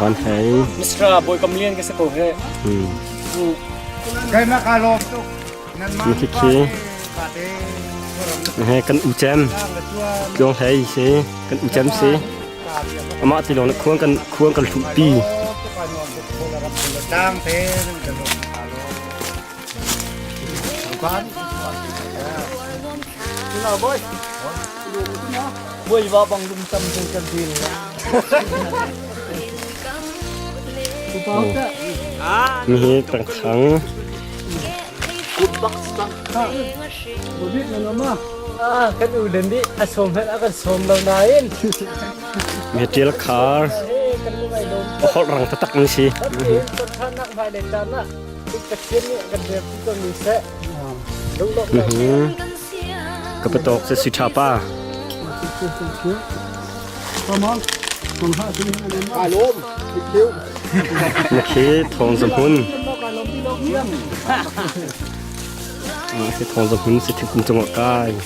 van hei Mr. Boy Kam Lian ka se ko he hmm Kaimak ka lom tu nan man khi he kan u chem tluang hei si kan u chem si ama ti long khuang kan khuang kan hlu pi dang te Buaiva bang lung tam te kan dil. Nihi kan khang. Kan u len di a som han a kan som lo nain. Mi til khar. Hol rang tatak ni si. Kan than nak vai le tan nak. Ka patok se si tha pa. Na khi thong za hun. Ah, si thong za hun si thik kum chunga kai.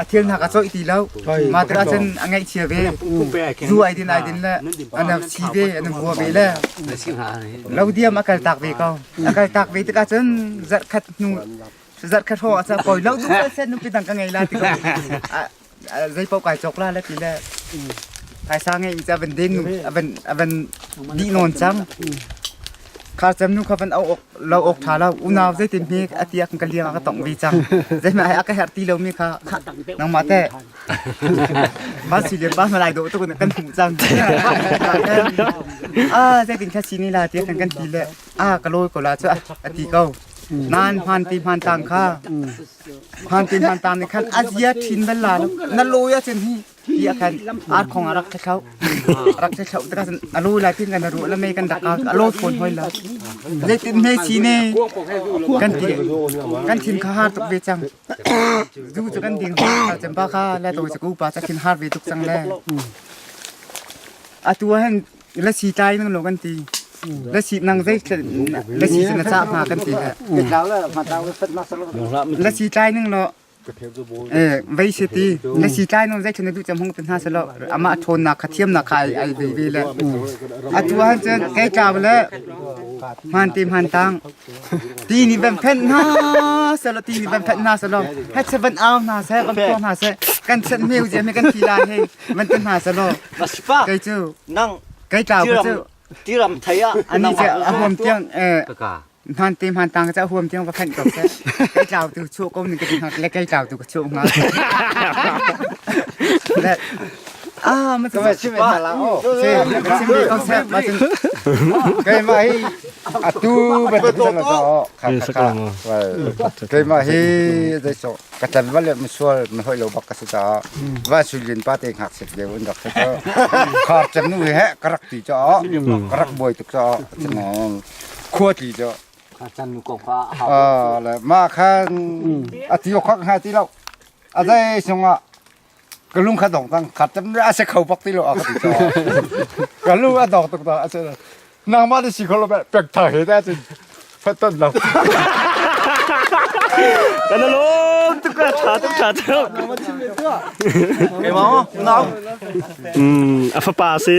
a thil hna ka cawih ti lo ma tu ah cun a ngaihchia ve zu ai din ai din le ana si ve ana hua ve le lo diam a kal tak ve ko a kal tak ve tikah cun zarh khat hnu zarh khat ho a sa poi lo du sen nu pitang ka ngei la ti ko zei pau kai chok la le ti le phaisa ngei in cha van den nu avan avan di non chang Kha cem nu kha van auh awk lo awk ṭha lo. Unau zeitin hme a tiak ka liang a ka tongh ve cang. Zeihmah a ka herh ti lomi kha kha nangmah teh. Ba si le ba malai do tu kan hmuh cang. Ah zeitin kha si ni la tiah kan kan ti le a ka lawi ko la cu a ti ko. Nan hman ti hman tang kha hman ti hman tang nih khan a zia ṭhin bal la na lawi a cun hi tiah khan ar khong a rak thi thloh a rak thi thloh tikah cun a lu lai tin kan ruh le mei kan dak ka a lo fawn hoi la zeitin hme chi ne kan ti kan thin kha har tuk ve cang zu cu kan ding hoi chamba kha le to cu pa ta thin har ve tuk cang le atu hen la si tlai nang lo kan ti la si nang zei la si cun a cha hma kan ti la si tlai nang lo vei se ti na si tlai non zai thana du cham hong te hna selo ama thon na kha thiam na kha ai ai ve ve le a tu han chen kai ta bale man ti man tang ti ni bang phen na selo ti ni bang phen na selo het seven out na se bang to na se kan sen meu je me kan thi la he man te na selo kai chu nang kai ta bu chu tiram thaya ani je a hom tiang eh hman te hman tang cha huam tiang va khan ko se kai tlaw tu chu ko ning ka le kai tlaw tu ka chu nga ah ma tu ma chim ma la o se chim mi ko se ma chim kai ma hi atu ba tu sa la o kai ma hi dai so ka tan wale ma sual ma hoi lo bak ka sa va sulin pa te ngak sik de un dak sa khar chan nu he karak ti cha karak boi tuk cha chimong Khuatli cu. Mah khan a ti awk hnga ti lo. A zei sungah ka lung kha dong cang khat tam a si kho bak ti lo a ka ti caw. Ka lung a dong tuk ta a si. Nangmah na si kho lo beh pek tha he ta cun fatton lo. Kana lom tuk ka tha tuk tha tuk. Keimang nau. A fapa si.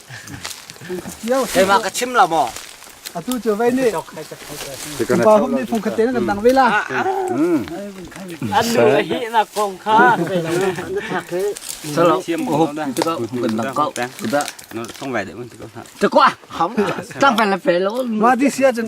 Keimah ka chim la maw? Atu cu vei nih Pupa hum nih phung khaten kan dang ve la. An nu a hi na kong kha na thak hi. Salo ko hop tikah kan nak kau kita. Song vai de mun tikah. Te kwa ham. Tam pe la pe lo. Ma di sia chen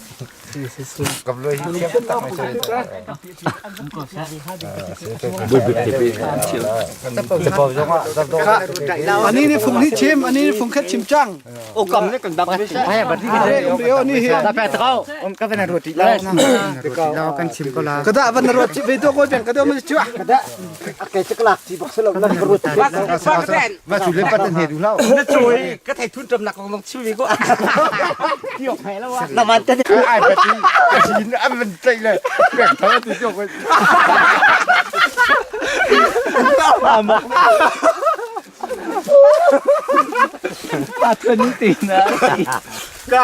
Ani ni fung ni chim ani ni fung khat chim chang. O kam ne kan bak ai ba ti yo ni hi da pe tao om ka na roti lao na roti lao kan chim ko la kada ban roti ve to ko ben kada ma chua kada Akai cek lak ti bok selo na ruat. Ma cu le pat na hne du lau. Na cui ka thei thun ṭam nak kong chiu mi ko. Tio phai lo wa. Na man te. Ai pati. Chin am man tlai le. Pek thau tu jo ko. Patun ti na. Ka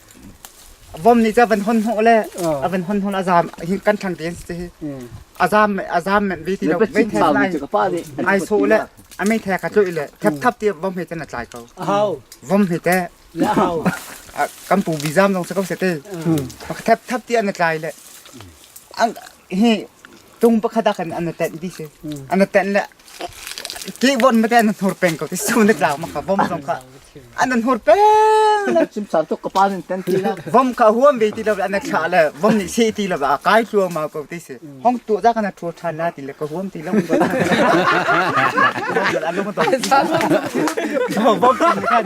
vom nih cun van hon hnawh le a van hon hnawh a zaam kan thang te an si hi a zaam a zaam men vi ti lo mei the lai ai so le a mei the ka chu le thap thap ti vom he tan a tlai ko vom he te kan pu bi zaam dong sa ko se te thap thap ti an tlai le hi tung pakhat ah kan ana ten di si ana ten le ki von ma te ana hnur peng ko ti su ne tlang ma ka vom song ka ana hnur peng le chim san to ka pa nin ten ti la vom ka huam ve ti lo ana cha le vom ni se ti lo ba kai thua ma ko ti si hong tu da kana thua than na ti le ka huam ti lo vom kan kan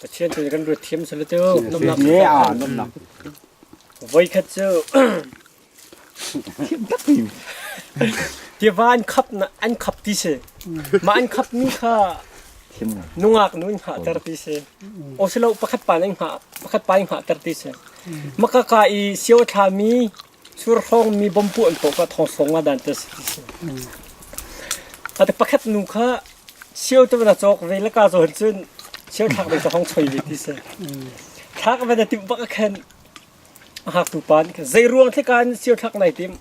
Pathian cu kan ruat thiam sal tu nomnak voi khat cu tiva an khap na an khap ti se ma an khap mi kha nungak nu in hngah ter ti se o silo pakhat pa nan hngah pakhat pa in hngah ter ti se maka ka i sio thla mi Surhrawng mi bom puah an tuk ah thongsawng nga dan te a si ti si. Ate pakhat nu kha sio te na cawk ve le ka zawn cun sio thak ve hong choi ve ti si. Thak ve na timh bak a khen a hngaktu pa nih zei ruang thika in sio thak nai tim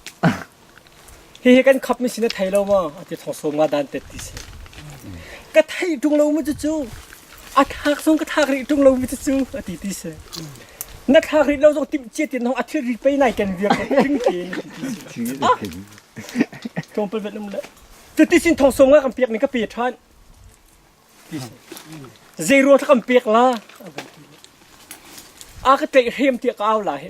hihi kan khap mi sin a thei lo maw a ti thosawm nga dan tet ti si ka thei tung lo mu cu cu a thak song ka thak rih tung lo mi cu cu a ti ti si na thak rih lo zong tim chia tin hong a thil ri pei nai ken vir ring ke ni ti si thong pal vet lum le titi sin thong song nga kan pek ni ka pe than ti si zeiro thak kan pek la a ka te hem ti ka au la he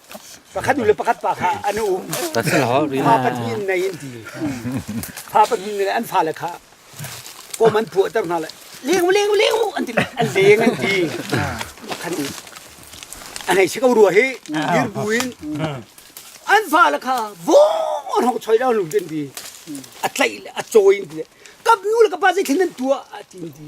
Pakhat nu le pakhat pa kha an um. Pa pahnih in nei an ti. Pa pahnih nih an fale kha kom an puahter hna le leng leng leng an ti an leng an ti. Pakhat nih an hei si ko rua hi dir buin an fale kha vong an hong choi lo lu tin ti a tlaih le a cawi in ti kapnu le kapa zei thlen nan tua a ti ti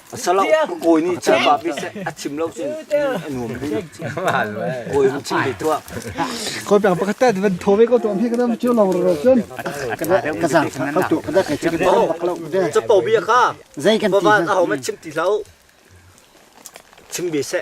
Asala kawi nih Khrihfa mi se a chim lo cun a nuam rih. Kawi va chim rih tuah. Kawi peng pakhat tet van tho ve ko tuam hi kadam chiu lo ro cun. Ka zang ka tu ka da ka chim ba bak lo de. Cho to bia ka. Zei kan ti. Baba a hom chim ti hlau. Chim bi se.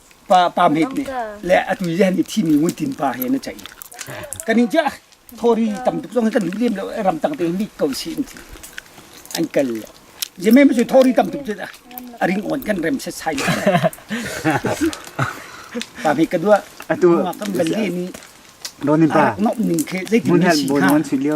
pa pa met nih le atu le ni thi mi ngun tin pa he na chai kan in ja thori tam tuk zong kan lem lo ram tak te mi ko si in an kal je me me thori tam tuk a ring on kan rem se sai pa me ka dua atu kan bal ni ronin pa no ning ke zeitin ni si ka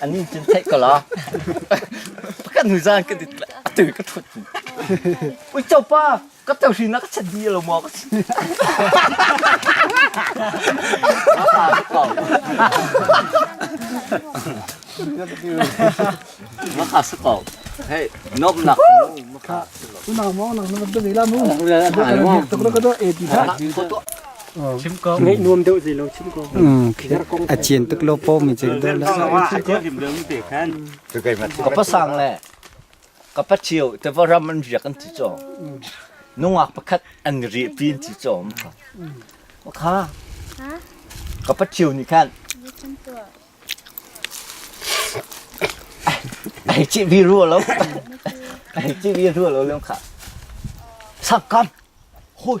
An in cun theih ko la. Pakhat hnu zaan ka dit a tu ka thut. Ui cho pa, ka tau hri na ka chat di lo mo ka chat. Maka sa ko. Hey, nom nak mu maka. Unang mo nang nang beli la mu. Ko to e ti ta. Ngeih nuam deuh zei lo chim ko. A chian tuk lo po mi chik dol la. Ka pa sang le ka pa chiu te va ram an riak an ti cho. Nungak pakhat an ri pi an ti cho am ka. Kha ka pa chiu ni khan ai chi bi ru lo ai chi bi ru lo lem kha. Sakam hui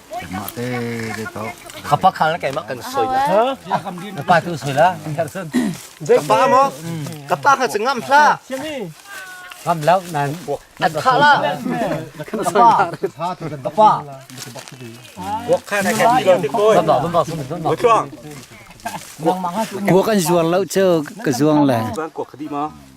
Kuak an zuar lo cu ka zuang le.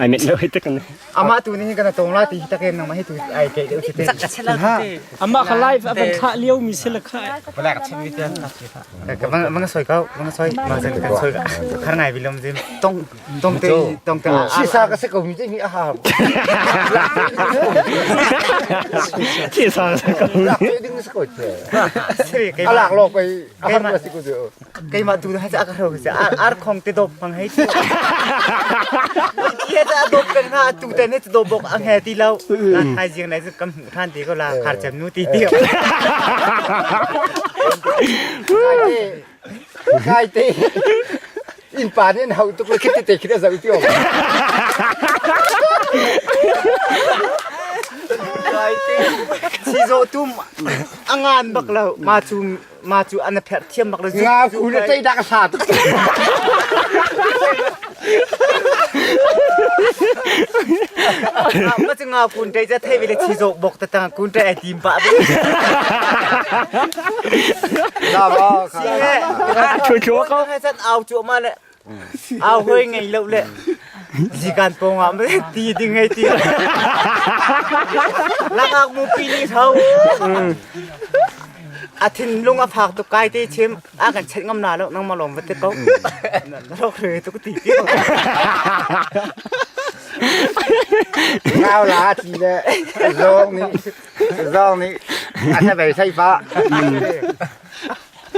ai net lo hi tak ne ama tu ning kan tong la ti tak en nang ma hi tu ai ke de ti ama kha live aban thla liu mi se la kha black chin mi te ka mang mang soi kau mang soi mang sen kan soi khar ngai bilom jim tong tong te tong te shi sa ka se ko mi mi aha ki sa ka ko ding se ko te alak lo pe ahar ma si ku keimah tu hai ka ro se ar ar khong te dop mang hei tu ti ta dop kan ha tu te ne dop bok a nge ti lo na hai jing nai kam than te ko la khar chem nu ti ti kai te in pa ne hau tu ke te te khita zau ti o kai te si zo tum angan bak lo ma chung ma cu an pherh thiam bak le nga ku ne tei dak sa tu ma chu nga kun tei cha thei vele chi zo bok ta tang kun tei tim ba be la ba ka chu chu ko chan au chu ma ne Au hoi ngei lo le zikan pawng ah me ti ding ngei ti. Lakak mu pi ni tho. A thinlung a phak tu kai te chim a kan chet ngam na lo nang ma lom vate ko. Lo re tu ti ti. Ngau la ti le zong ni zong ni a ta bei sai pa.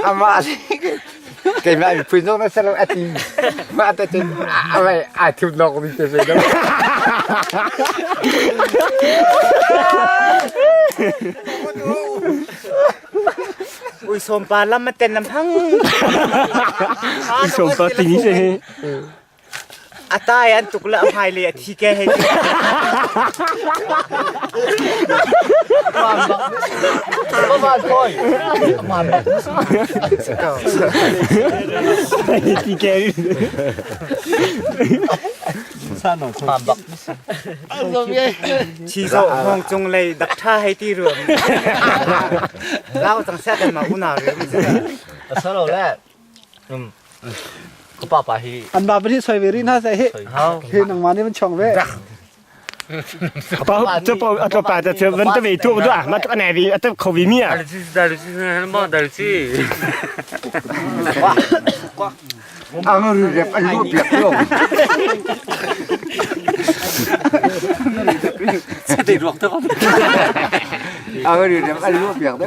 Amah nih keimah miphun zong na ser a ti. Mah te cun a mei aa thup nawk ni te ve lo. Ui sawm pa lam ma ten lam thang. Sawm pa ting hi se. A tai an tuk le a hmaile a thi ke hei ti. Mama phone. Mama. Ti ke Mama bak. Thi zo hong chung lei dak tha hei ti rum. Lau tang sa kan ma una rum. A solo le An ba pahnih soi ve rih hna seh hi. Hi nangmah nih van chong ve. Apa tu pa atlo pa ta tu van ta ve tu tu ah ma tu ane vi ata kho vi mi ah. Ang ru rep an ru piak lo. Sate ruak tu. Ang ru rep an ru piak de.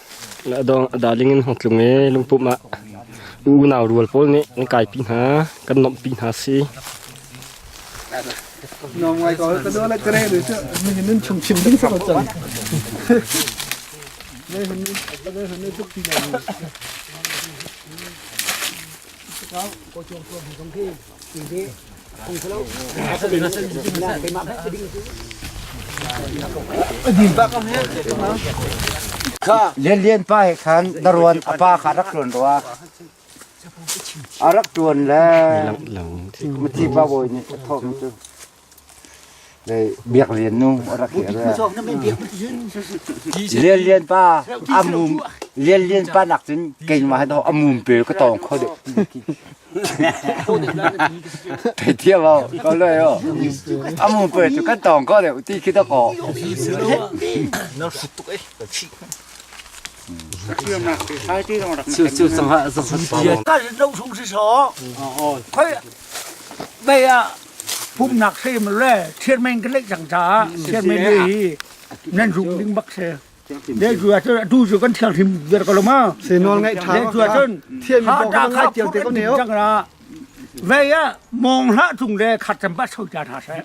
Adawng a daling in hong tlung ee lungpumh ah u unau rual pawl nih an kaipi hna kan nomhpi hna si. Lianlian pa he khan daruan apa kha rak tuan rua a rak tuan le mati pa bawi nih a thawm cu Lianlian pa a mum Lianlian pa nak cun keimah he dawh a mum pe ka tawng kho deh. Thei thiam o, ko loi o. A mum pe cu kan tawng kho deh, ti khi dok o. Chu chu sang ha sang ha. Kan lo sung si so. Khoi Bei ah pumhnak hlei maw le thirmeng kan leih cang caah thirmeng lei hi nan rung ding bak si. Deitu ahcun atu cu kan thianghlim viar ko lo ma. Se nawl ngaih ṭha Deitu ahcun thiam ha ta kha tial te ko ne o. Cang ra. Vei ah mong hlah cung le khat cam ba so ta tha seh.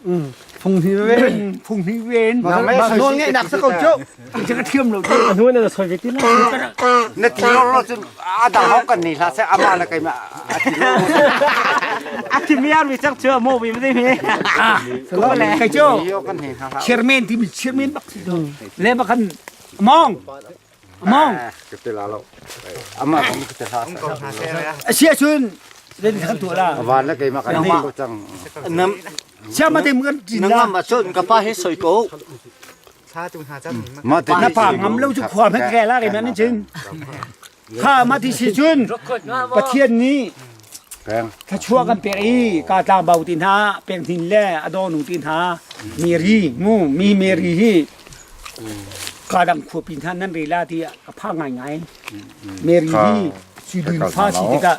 Phung hni ven. Phung hni ven. Nawl ngaih nawl ngaihnak sa ko cu. Na ti lo lo cun a dang hok kan nei hla se amah na kai ma a ti lo. A thimi ar mi chak chu a mo bi ma ding he. Ko le. Kai chu Yo kan nei hla hla. chairman ti mi chairman bak si do le bakhan mong mong Ka te la lo. Amah kan ka te hla se. asia chun le di khan tu la Awan na kai ma kan nei lo chang. nam Siam ma tem kan tin nang la am a chun ka pa he soi ko. na pa ngam lo cu khua hmet ke la ke nan chin kha ma ti si cun pathian nih thluachuah kan pek i ka tlang bau ti hna peng hnin le adonu ti hna meri ngu mi meri hi ka dang khua pin han nan re la ti a pha ngai ngai meri hi si dun fa si tikah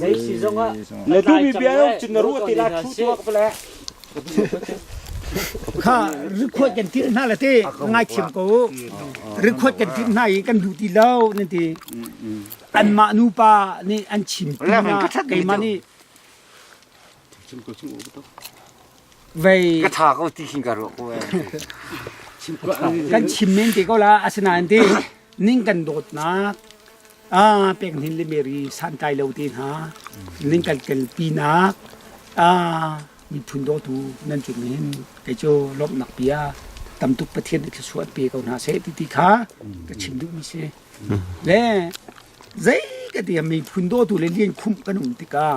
Zeisi zongah na duhmi bia rung cun na ruah ti la thu tuak vale kha rikhuat kan tirh hna la te ngaithiam ko rikhuat kan tirh hna i kan duh ti lo nan ti an mah nupa nih an chim pi hna keimah nih Vei. Ka tha ko ti hin ka ro ko Kan chim men te ko la asinain ti ning kan dawtnak a pek nin le meri santai lo te hna ning kan kel pinak a miphun dawtu nan cun hin kei cu lomnak pia tamtuk pathian thil suat pe ko hna se ti ti kha ka chim duh mi si le zei ka ti miphun dawtu le lian khum kan um tikah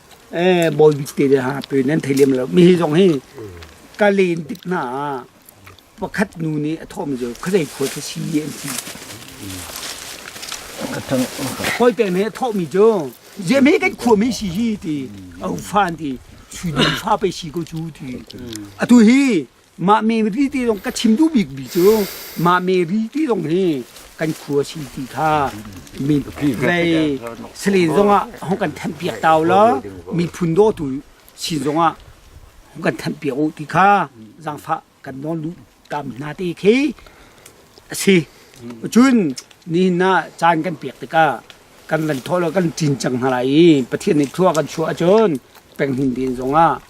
eh bawibik te le ha pe nan thei lem lo mi hi zong hi ka len tik hna ah pakhat nu nih a thawm cu khuazei khua khi si an ti hoi te nih a thawh mi cu ziami kan khua mi si hi ti a ufan ti sui fa pe si ko cu ti atu hi Mah Mary te zong ka chim duh bikmi cu mah Mary te zong hi kan khua si ti kha min lei salen zongah hong kan thanh piak tau lo miphun dawtu sin zongah hong kan thanh piak u ti kha zangfa kan nawn lu tam hna te khi a si cun nihin na caan kan pek tikah kan lan thaw lo kan cin cang hna lai i pathian nih thlua kan chuah ahcun penghin den zongah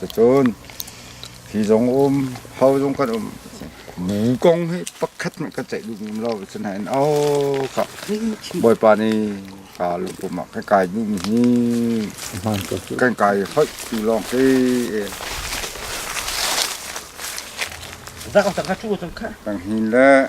Cucun hi zong um, hau zong kan um. Mi kong hi pakhat hmanh kan ceih duh ngam lo. Sinain oh ka Bawipa nih ka lungpum ah ka kai duhmi hi kan kai hoih tu lawng si. Kan hin le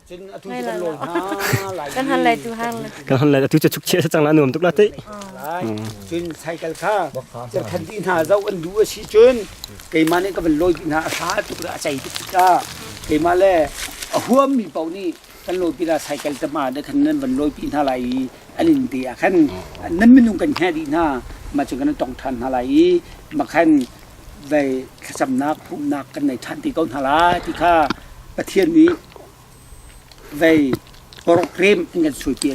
kan han lai tu har le kan han lai tu che chuk chia chang la nuam tuk la te cun cycle kha khan ti hna zau an du a si cun keimah nih ka van lawi pi hna a hra tuk a chai tuk ta keimah le a huam mi pau nih kan lawi pi la cycle ta ma da khan nan van lawi pi hna lai i an in te a khan nan minung kan hna di hna ma chu kan tong than hna lai i ma khan vei thlacamnak pumhnak kan nei ṭhan te ko hna lai ti kha Pathian nih vei program in kan suite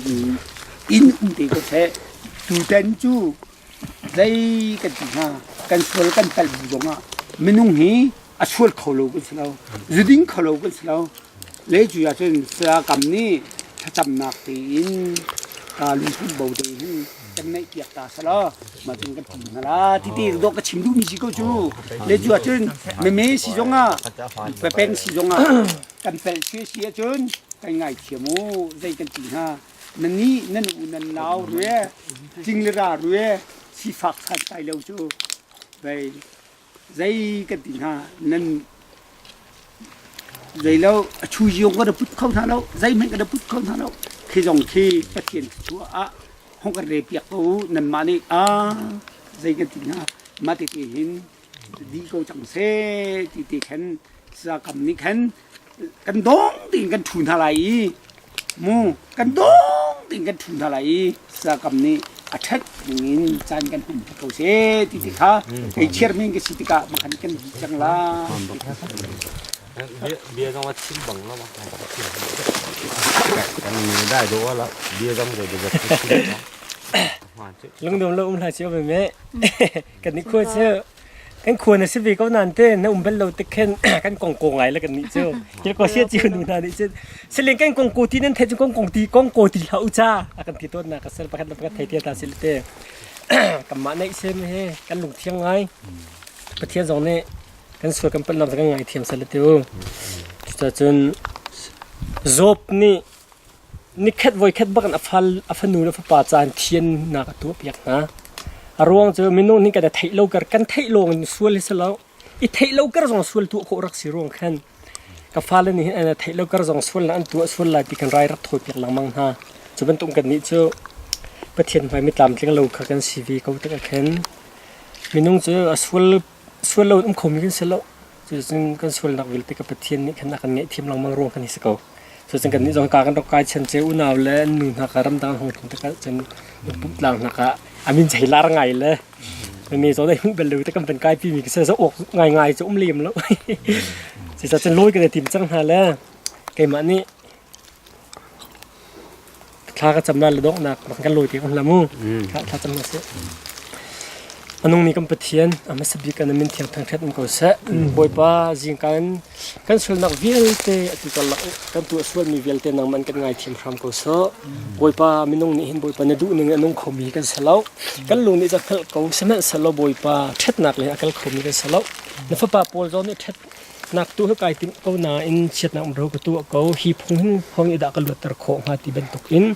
in um te ko seh. Tutan cu vei kan ti hna kan sual kan palh bu zongah minung hi a sual kho lo kan si lo zuding kho lo kan si lo le cu ahcun sayakam nih thlacamnak tein aa luhsunh bo te hin kan ngaih piak ta sala ma cun kan ti hna la ti ti dok ka chim duh mi si ko cu le cu ahcun meme si zong ah pepeng si zong ah kan pel si si ahcun kan ngai thiam u zei kan ti hna na ni nan u nan lau rue tling le ra rue si fak san tai lo cu vei zei kan ti hna nan zei lo a chu ziong ka da put kho hna lo zei hmanh ka da put kho hna lo khi zong khi pathian thua ah hong ka re piak ko nan mah nih a zei kan ti hna mah te te hin di ko cang se ti te khen sakam nih khen kan dong tiin kan thu hna lai i mu kan dong tiin kan thu hna lai i sakam nih a ṭhat in caan kan hum ko seh ti ti kha kei chairman ka si tikah makhan kan di cang la bia zong a chim bang lo kan ni dai do ala bia zong ke de chim lung dum lo um la chi me kan ni khua chu kan khua na si ve ko nan te na um bel lo te khen kan kong ko ngai la kan ni chu kil ko sia chi nu na ni chu seleng kan kong ko ti nan the chu kong kong ti kong ko ti la u cha akan ti ton na ka sel pakhat pakhat thai thia ta sil te kam ma nei sem he kan lung thiang ngai pathian zong ne kan sual kan pat lam kan ngai thiam sel te u ta chun job ni Nikhat voikhat bak in a fanu le fapa ca in thiannak a tuahpiak hna. A ruang cu minung nih kan i theih lo kar kan theih lawng in sual hi si lo. I theih lo kar zong sual tuah khawh rak si ruang khan ka fale nih an theih lo kar zong sual an tuah sual lai ti kan rai rat thawipiak lengmang hna. Cu bantuk kan nih cu Pathian hmai mi tlamtling lo kha kan si ve ko tikah khin minung cu a sual sual lo um khomi kan si lo. Cucun kan sualnak vialte ka Pathian nih khan a kan ngaihthiam lengmang ruang kan hi si ko. Cucun kannih zong ka kan rak kai chan ce unau le nu hna ka ramdang hong thong tikah cun pumh tlang hna ka amin cei lar ngai le ne zo dai hun bel lo te kan ban kai pi mi ka se zo ok ngai ngai chu um lem lo se sa chan loi ka tim chang hna le keimah nih thla ka camna le donghnak rak kan lawi te kan hlamu thla thla cam sih anung ni kan pathian a hmasa bik kan min thiang thang hret ko se bawipa jing kan kan sulnak vialte atu karlak kan tu sual mi vialte nang man kan ngai thiam hram ko so bawipa minung nih hin bawipa na duh ning anung khomi kan selo kan lung nih ja phel ko semen selo bawipa ṭhetnak le akal khomi kan selo na fapa paul zon nih ṭhet Nak tu ka kai timh ko nain chiatnak ro ka tuah ko hi phung hin hong i dah ka luatter khawh hnga ti bantuk in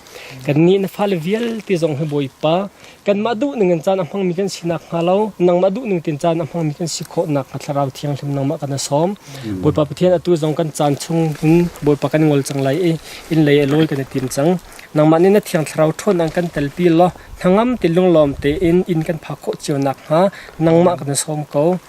kan nih na fale vialte zong hi bawipa kanmah duh ning in caan a hmangmi kan sinak hnga lo nangmah duh ning tin caan a hmangmi kan si khawh nak hnga thlarau thianghlim nangmah kan sawm bawipa pathian atu zong kan caan chung in bawipa kan ngol cang lai i in lei a lawi kan i tim cang nangmah nih na thiang thlarau ṭhawn ang kan telpi law hnangam te lunglawm te in in kan phak khawh cio nak hnga nangmah kan sawm ko